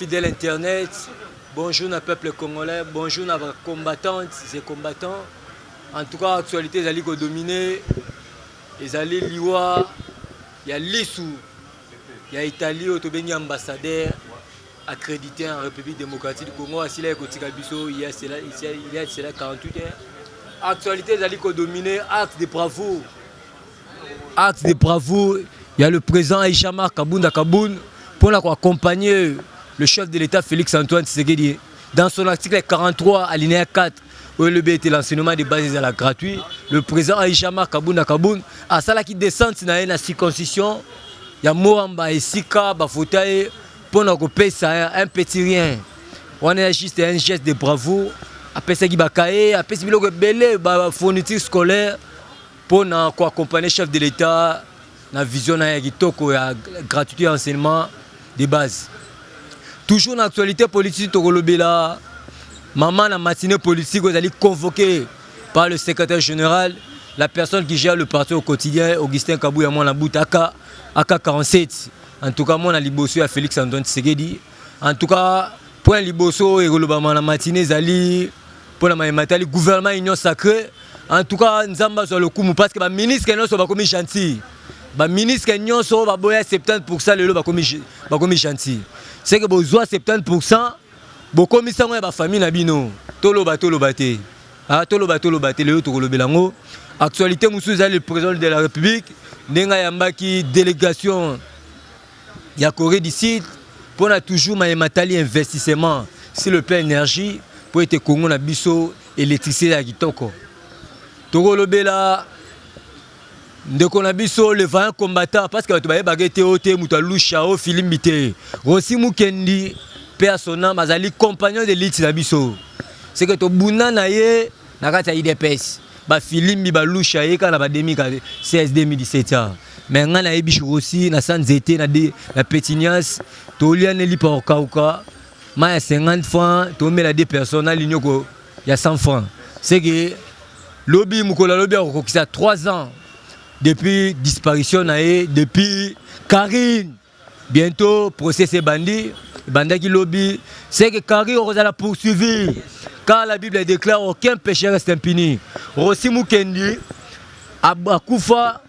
fidèle internet bonjour na peuple congolais bonjour na bacombattantes et combattants en tout cas actualité ezali kodomine ezali liwa ya lisu ya italie oyo tobengi ambassadeur accrédité en République démocratique du Congo asila ye kotika biso il y a cela il y a cela 48 heures actualité ezali kodomine acte de bravoure acte de bravoure ya le président Aïcha Marc Kabunda Kaboun mpo na koaccompagner le chef de l'État Félix Antoine Tshisekedi dans son article 43 alinéa 4 oyo elobi ete l'enseignement de base ezala gratuit le président Aïcha Marc Kabunda Kaboun asalaki descente na ye na circoncision ya Moamba esika bafota ye pona kopesa un petit rien wana ya juste un geste de bravoure apesaki bakaye apesi biloko ebele ba fourniture scolaire mpo na koaccompagne chef de l'etat na vision na ya kitoko ya gratuité ya enseignement de base toujours na actualité politique tokolobela mama na matinée politique oyo ezali convoqué par le secrétaire général la personne qui gère le parti au quotidien augustin kabuya mwana butaka aka 47 En tout cas mwana liboso ya Felix Antoine Tshisekedi. En tout cas point liboso oyo ekolobama na matinée ezali mpo na maye matali gouvernement union sacrée. En tout cas Nzambe azwa lokumu parce que ba ministres nyonso bakomi gentil. Ba ministres nyonso baboya 70% lelo bakomi bakomi gentil. C'est que bozwa 70% bokomisa ngo ya ba famille na bino. Toloba toloba te. Ah, toloba toloba te lelo tokolobela yango actualité mosusu ezali le président de la république ndenge ayambaki délégation ya corée du sud mpo na toujours maye matali investissement sur le plan énergie mpo ete congo na biso électricité ya kitoko tokolobela ndeko na biso le vaillant combattant parce que bato bayebaka ete oyo te moto ya lusha oyo filimbi te rosi mukendi mpe ya son âme azali compagnon de lutte na biso seke tobunda na ye na kati ya idps bafilimbi balusha ye kaka na ba 2016 2017 a me ngai nayebi rosi na sa nzete na, de, na petinias toliane lipa kokauka mai ya 50 franc tomela de personne na linioko ya 100 franc seke Lobi mokolo ya lobi akokokisa 3 ans depuis disparition na ye depuis Carine bientôt procès ebandi ebandaki lobi c'est que Carine okozala poursuivi car la Bible déclare aucun péché reste impuni. Rosi Mukendi akufa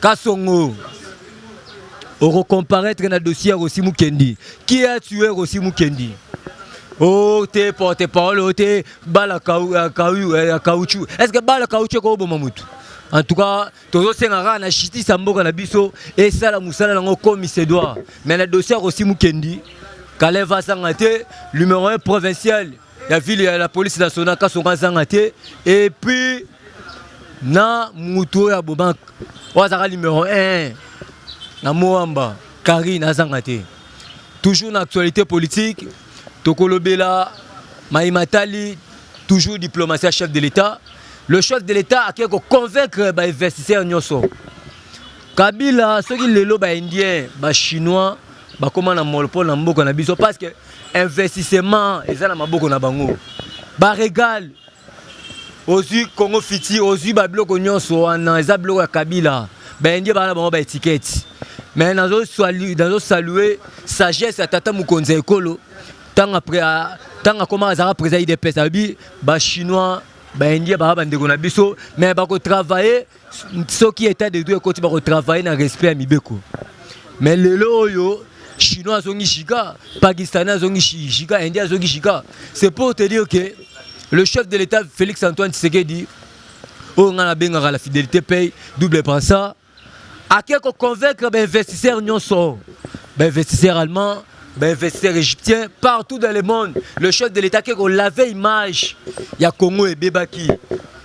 Kasongo okocomparaître na dossier ya Rosi Mukendi qui a tué Rosi Mukendi o oh, te porte parole o oh, te bala ya caoutchouc euh, est ce que bala caoutchouc ekoboma motu en tout cas tozosenga kaka na justice ya mboka na biso esala mosala yango komi se doit mais na dossier ya Rosi Mukendi Kalev azanga te numéro 1 provincial ya ville ya la police nationale kasonga azanga te et puis na mutu oyo aboma oyo azalaka numero 1 na moamba karine azanga te toujours na actualité politique tokolobela mai matali toujours diplomatie ya chef de l'état le chef de l'état akei koconvaincre bainvestisseur nyonso Kabila soki lelo ba indien ba chinois bakoma na monopole na mboka na biso parce que investissement eza na maboko na bango baregale ozwi congo fiti ozwi babiloko nyonso wana eza biloko ya kabila baindie baa na bango baetiketi me nazosalue sagesse ya tata mokonzi ya ekolo ntango akomaka azalaka président idps alobi bachinois baindie baa bandeko na biso me bakotravaille Soki etat de droit ekoti bako travailler na respect ya mibeko. Mais lelo oyo chinois azongi giga, pakistanais azongi giga, indien azongi giga. C'est pour te dire que le chef de l'État Félix Antoine Tshisekedi oyo ngai nabengaka la fidélité paye double pensa ake koconvaincre bainvestisseur nyonso bainvestisseur allemand bainvestisseur égyptien partout dans le monde le chef de l'état ake kolave image ya congo ebebaki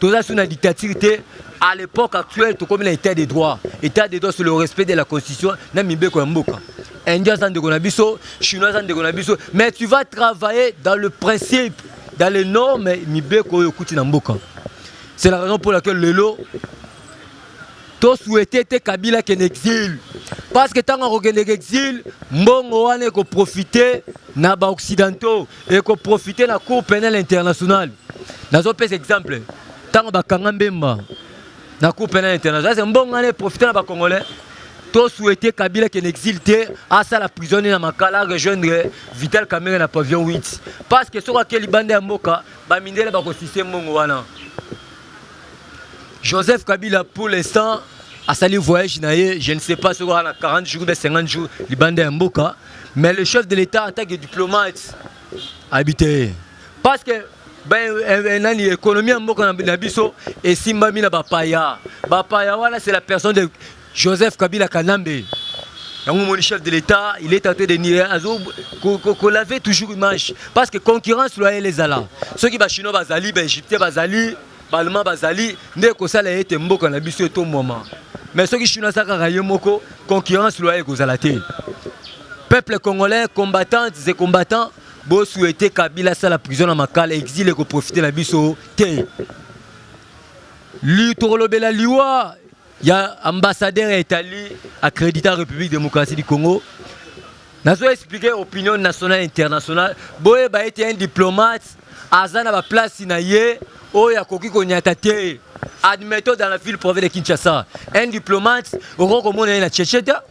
toza sous na dictature te à l'époque actuelle tokomi na état de droit état de droit sur le respect de la constitution na mibeko ya mboka indien aza ndeko na biso chinois aza ndeko na biso mais tu vas travailler dans le principe dans les normes mibeko oyo okuti na mboka c'est la raison pour laquelle lelo to souhaite te kabila kende exil parce que ntango akokendeke exil mbongo wana ekoprofite na baoccidentaux et ko profiter la cour pénale internationale nazo pesa exemple tango bakanga mbemba na cour pénale internationale c'est mbonga ne profiter na ba congolais to souhaiter Kabila qu'en exil te asala prison na makala rejoindre Vital Kamerhe na pavillon 8 parce que soki akeli bande ya mboka ba mindele ba ko sise mbongo wana Joseph Kabila pour l'instant asali voyage na ye je ne sais pas soki na 40 jours mpe 50 jours libanda ya mboka mais le chef de l'état en tant que diplomate ayebi te ye parce que ben, eh, eh, nani économie ya mboka na biso esimbami na bapaya bapaya wana c'est la personne de Joseph Kabila Kanambe yango moni chef de l'État il est en train de nier azo ko laver toujours image parce que concurrence loyale ezala soki ba chinois bazali ba égyptiens bazali ba allemands bazali nde ekosala ete mboka na biso etomwama mais soki chinois aza kaka ye moko concurrence loyale ekozala te peuple congolais combattantes et combattants bo souhaiter Kabila asala prison na makala exil ekoprofite na biso te li tokolobela liwa ya ambassadeur ya Italie accrédité en République démocratique du Congo nazo expliquer opinion nationale internationale boyeba ete un diplomate aza na baplace na ye oyo akoki konyata te admettons dans la ville province de Kinshasa un diplomate okoki komona ye na Tchetcheta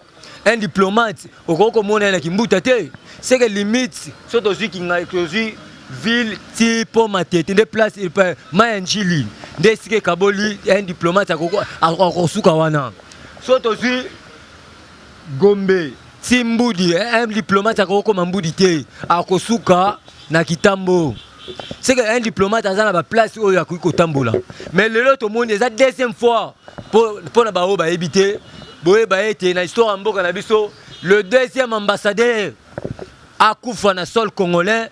un diplomate okoki komona ye na kimbuta te seke limite so tozwi kingai tozwi ville ti mpo matete nde place mai ya njili nde esika ekaboli un diplomate akosuka wana so tozwi gombe ti mbudi un diplomate akokoma mbudi te akosuka na kitambo c'est que un diplomate aza na ba place oyo akoki kotambola mais lelo tomoni eza deuxième fois mpo na baoyo bayebi te boyeba ete na histoire ya mboka na biso le deuxième ambassadeur akufa na sol congolais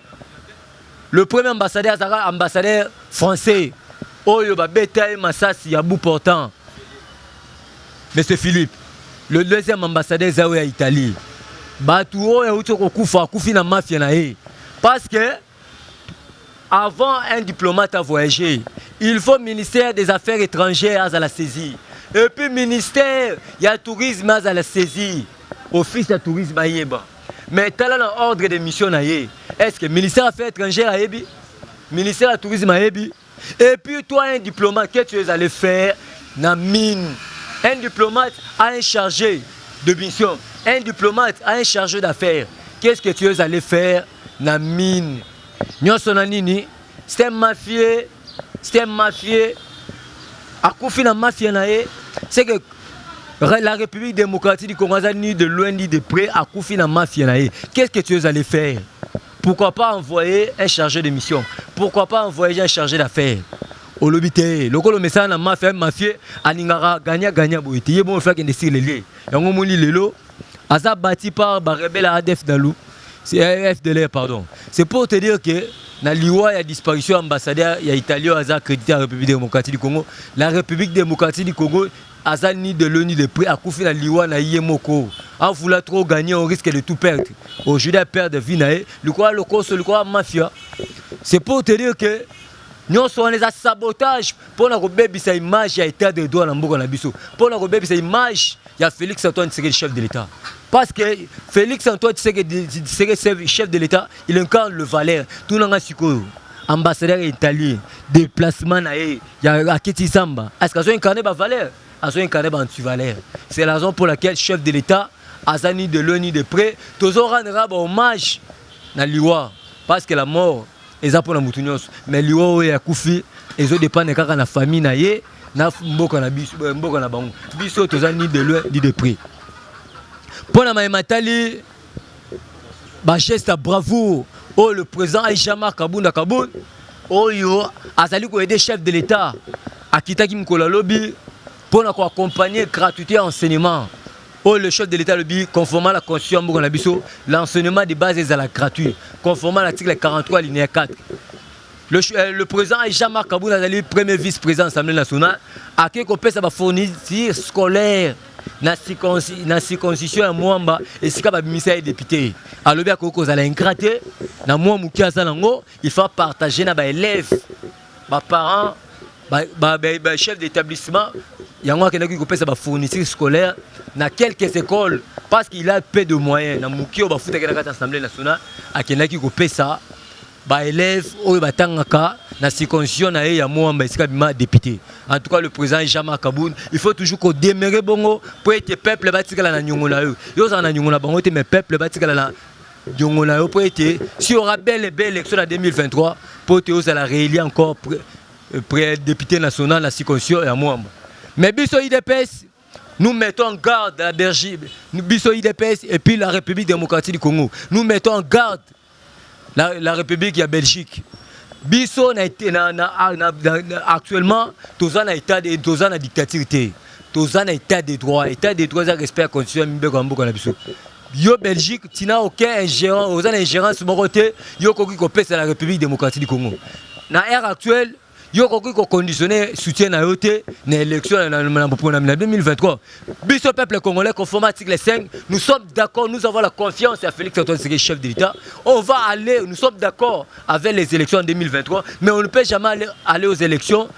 le premier ambassadeur azalaka ambassadeur français oyo babeta ye masasi ya bout portant Monsieur Philippe, le deuxième ambassadeur eza oyo ya Italie. Batu oyo auti kokufa akufi na mafia na ye. Parce que avant un diplomate à voyager, il faut ministère des affaires étrangères azala saisi. Et puis ministère ya tourisme azala saisi. Office ya tourisme ayeba. Mais tala na ordre de mission na ye. Est-ce que ministère ya affaires étrangères ayebi? Ministère ya tourisme ayebi? Et puis toi un diplomate, qu'est-ce que tu es allé faire na mine Un diplomate a un chargé de mission. Un diplomate a un chargé d'affaires. Qu'est-ce que tu es allé faire na mine Nyonso na nini C'est un mafieux, c'est un mafieux. Akufi na mafia na ye, c'est que la République démocratique du Congo aza ni de loin ni de près akufi na mafia na ye. Qu'est-ce que tu es allé faire Pourquoi pas envoyer un chargé de mission Pourquoi pas envoyer un chargé d'affaires olobi te lokola omesana na mafia mafie alingaka gagna gagna boye te ye bongo faki nde silele yango omoni lelo aza bati par barebele ya adf dalu eh, fdlr pardon c'est pour te dire que na liwa ya disparition ya ambassadeur ya italie oyo aza accrédité ya république démocratique du congo la république démocratique du congo aza ni de loin ni de près akufi na liwa na ye moko en voulant trop gagner on risque de tout perdre aujourd'hui a perdre vie na ye likola lokoso likola mafia c'est pour te dire que nyonso wana eza sabotage mpo na kobebisa image ya état de droit na mboka na biso mpo na kobebisa image ya félix antoine tshisekedi chef de l'état parce que félix antoine tshisekedi chef de l'état il incarne le valeur tunanga sikoyo ambassadeur italien déplacement na ye ya akiti zamba est-ce azo incarner ba valeur azo incarner ba antivaleur c'est la raison pour laquelle chef de l'état aza ni de loin ni de près tozo rendre ba hommage na liwa parce que la mort eza mpona motu nyonso mais liwa oyo ya kufi ezo dépendre kaka na famille na ye na mboka na biso euh, mboka na bango biso toza ni de loin ni de près mpona maye matali Ba geste ya bravoure oyo le président Aïcha Marc Kabunda Kabund oyo azali ko aider chef de l'État akitaki mokolo ya lobi mpo na koaccompagne gratuité ya enseignement oyo le chef de l'état alobi conformément na constitution ya mboka na biso l'enseignement de base ezala gratuit conformément na article 43 alinéa 4 le, euh, le président jean marc kabund azali premier vice président assemblée nationale akei kopesa bafourniture scolaire na circonci- na circoncision ya mwamba esika babimisa ye depute alobi akoki kozala ingrat te na mwa moke aza nango il faut partage na baélève baparent bachef d'établissement yango akendaki kopesa bafourniture scolaire na quelques écoles parce qu'il a peu de moyens na moke oyo bafutaki na kati ya assemblée nationale akendaki kopesa ba elèves oyo batangaka na circoncision na ye ya Moamba esika bima député. En tout cas le président Jean-Marc Kabund, il faut toujours ko demeurer bongo pour être peuple batikala na nyongo na yo. Yo za na nyongo na bango te mais peuple batikala na nyongo na yo pour être si aura belle et belle élection na 2023 pour te oza la réélire encore près euh, député national na circoncision ya Moamba. Mais biso IDPS Nous mettons en garde la Belgique, biso IDPS et puis la République démocratique du Congo. Nous mettons en garde la, la République ya Belgique. Biso na, na, na, ah, na, na, actuellement toza na état de toza na dictature te. Toza na état de droit, état de droit za respect ya constitution mibeko ya mboka na biso. Yo Belgique, tina aucun ingérent, oza na ingérence moko te, yo koki kopesa la République démocratique du Congo. Na ère actuelle yo okoki ko conditionner soutien na yo te na élection na boponami na 2023 biso peuple congolais conforme article 5 nous sommes d'accord nous avons la confiance à Félix Antoine Tshisekedi chef de l'État on va aller nous sommes d'accord avec les élections en 2023 mais on ne peut jamais aller, aller aux élections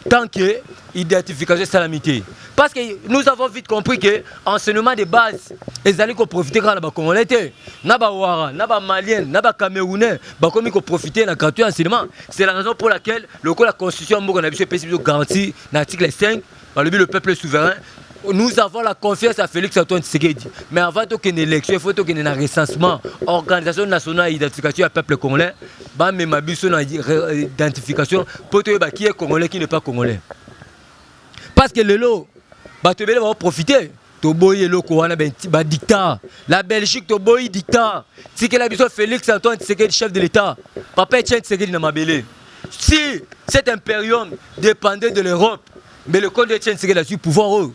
tant que identification esalami te parce que nous avons vite compris que enseignement de base ezali koprofite kaka na bacongolais te na bawara na bamalien na bacamerounais bakomi koprofite na gratuit enseignement C'est la raison pour laquelle le la constitution mboka na biso epesi biso garantie na article 5 balobi le peuple souverain nous avons la confiance à Félix Antoine Tshisekedi mais avant tokende élection il faut tokende na recensement organisation nationale d'identification ya peuple congolais bamema biso na identification mpo toyeba qui est congolais qui n'est pas congolais parce que lelo bato ebele baoprofite toboyi eloko wana ba dictat la belgique toboyi dictat tikela biso félix antoine tshisekedi chef de l'état papa etienne tshisekedi na mabele si cet imperium dépendait de l'europe mais le compte etienne tshisekedi azwi pouvoir oyo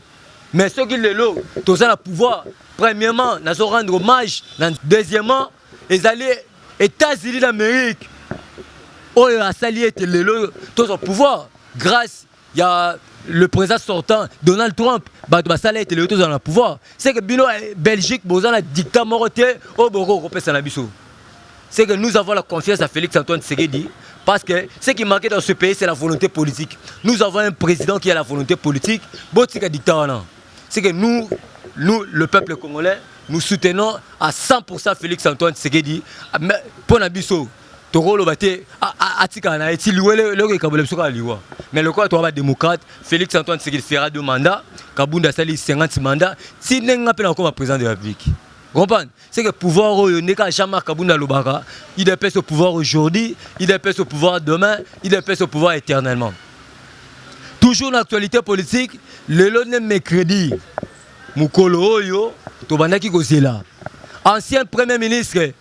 mais soki lelo toza na pouvoir premièrement nazo rendre hommage na deuxièmement ezali états-unis d'amérique oyo asali ete lelo tozwa pouvoir grâce ya le président sortant Donald Trump bato basala ete lelo tozala na pouvoir c'est que bino eh, Belgique boza na dictat moko te oyo bokoki kopesa na biso c'est que nous avons la confiance à Félix Antoine Tshisekedi parce que ce qui manquait dans ce pays c'est la volonté politique nous avons un président qui a la volonté politique botika dictat wana c'est que nous nous le peuple congolais nous soutenons à 100% Félix Antoine Tshisekedi ah, mpo na biso tokoloba te atikala na ye ti liwa eloko ekabole biso kaka liwa mais lokola toa badémocrate félix antoine tshisekedi fera de mandat kabunda asali 50 mandat ti ndenge nga mpe nakokoma président de la république comprendre c'est que pouvoir oyo nde kaka jean marc kabunda alobaka idps au pouvoir aujourd'hui idps au pouvoir demain idps au pouvoir éternellement toujours na actualité politique lelo nde mercredi mokolo oyo tobandaki kozela ancien premier ministre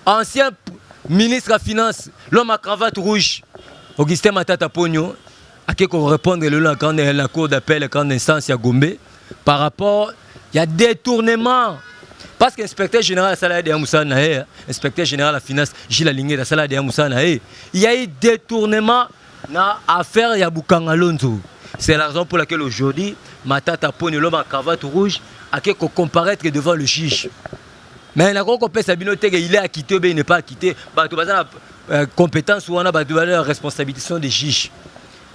ancien ministre ya finance l'homme à cravate rouge augustin matata ponio ake korépondre lelo na grande na cour d'appel grande instance ya gombe par rapport ya détournement parce que inspecteur général asala deya mosala na ye inspecteur général ya finance gile alingeta asala deya mosala na ye ya ye détournement Na affaire ya Bukanga Lonzo, c'est la raison pour laquelle aujourd'hui Matata Ponyo l'homme à cravate rouge a que ko comparaître devant le juge. Mais na ko kopesa bino teke il est acquitté ou bien il n'est pas acquitté, bato baza na euh, compétence wana bato baza na responsabilité sont des juges.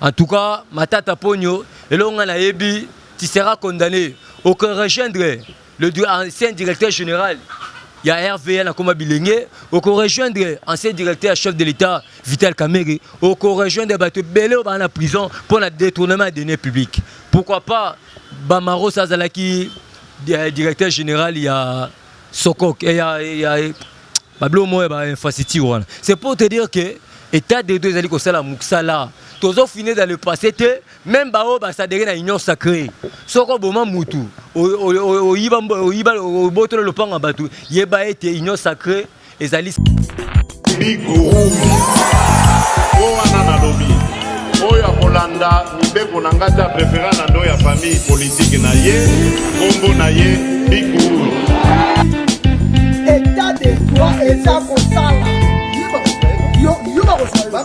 En tout cas, Matata Ponyo elonga na yebi tu seras condamné au que rejoindre Le ancien directeur général ya RVA na koma bilenge oko rejoindre ancien directeur chef de l'État Vital Kamerhe oko rejoindre bato ebele oyo baa na prison mpo na détournement ya denier public pourquoi pas Bamaros azalaki euh, directeur général ya Sokok eh, ya, ya babilo moko ya bainfrastructure wana c'est pour te dire que état de droit ezali kosala mosala tozofine dans le passé te Meme ba oyo ba s'adere na union sacree, soki oboma mutu, oyiba oyiba obotolo lopango ya batu, yeba ete union sacree ezali Big Guru. Oyo wana nalobi oyo akolanda mibeko na ngai te aprefera na ndo ya famille politike na ye nkombo na ye Big Guru. Etat de droit eza kosala yo yo bakosala